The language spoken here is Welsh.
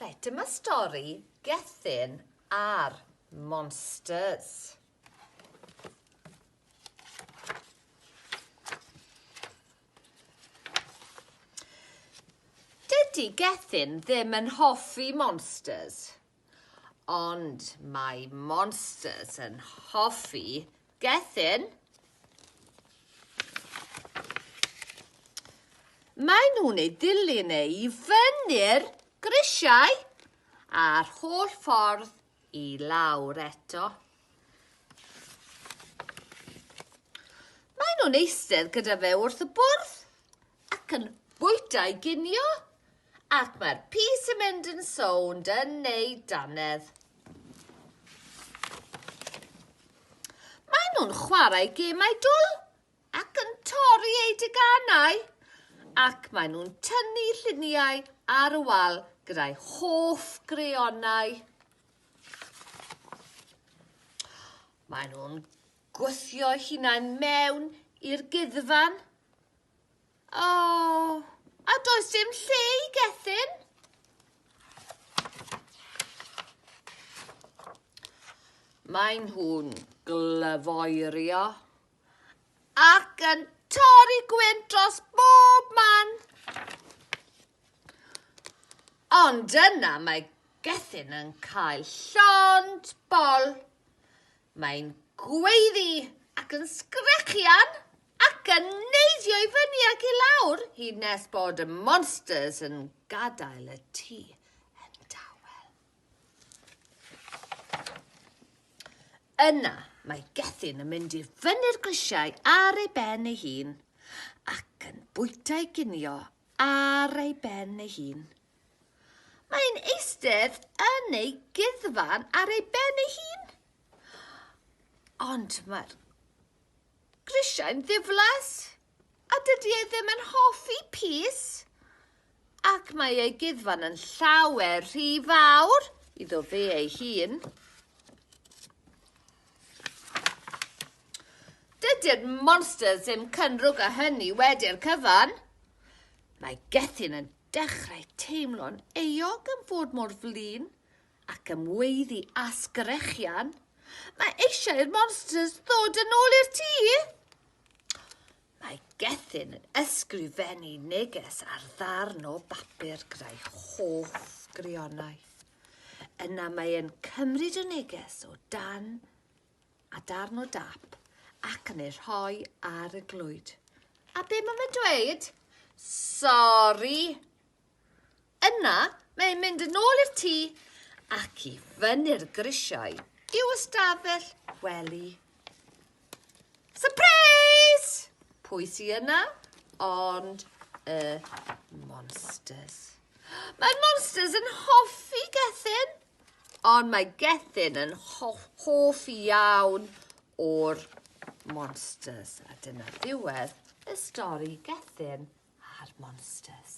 Reit, dyma stori Gethin a'r Monsters. Dydy Gethin ddim yn hoffi monsters. Ond mae monsters yn hoffi gethin. Mae nhw'n ei dilyn e i fyny'r grisiau a'r holl ffordd i lawr eto. Mae nhw'n eistedd gyda fe wrth y bwrdd ac yn bwyta i ginio Ac mae'r pys yn mynd yn sownd yn eu dannedd. Mae nhw'n chwarae gemau dwl ac yn torri eu deganau ac mae nhw'n tynnu lluniau ar y wal gyda'u hoff greonau. Mae nhw'n gwthio hunain mewn i'r guddfan O, a does dim lle i gethyn? Maen nhw'n glyfoerio ac yn torri gwynt dros bob man. Ond yna mae gethyn yn cael llond bol. Mae'n gweiddi ac yn sgrechian ac yn neidio i fyny ac i lawr hyd nes bod y monsters yn gadael y tŷ yn dawel. Yna mae Gethin yn mynd i fyny'r grisiau ar ei ben ei hun ac yn bwyta'i ginio ar ei ben ei hun. Mae'n eistedd yn ei guddfan ar ei ben ei hun. Ond mae'r grisiau'n ddiflas, a dydy e ddim yn hoffi pys, ac mae ei guddfan yn llawer rhy fawr iddo fe ei hun. Dydy'r monsters ddim cynrwg a hynny wedi'r cyfan. Mae Gethin yn Dechrau teimlo'n euog am fod mor flin ac am weiddi a sgrechian, Mae eisiau i'r monsters ddod yn ôl i'r tŷ! Mae Gethin yn ysgrifennu neges ar ddarn o bapur gyda'i hoff grionau. Yna mae e'n cymryd y neges o dan a darn o dap ac yn ei rhoi ar y glwyd. A be mae fe'n dweud? Sori! Yna, mae'n mynd yn ôl i'r tŷ ac i fyny'r grisiau i'w ystafell wely. Surprise! Pwy sy yna? Ond y monsters. Mae'r monsters yn hoffi Gethin. Ond mae Gethin yn hoff iawn o'r monsters. A dyna ddiwedd y stori Gethin a'r monsters.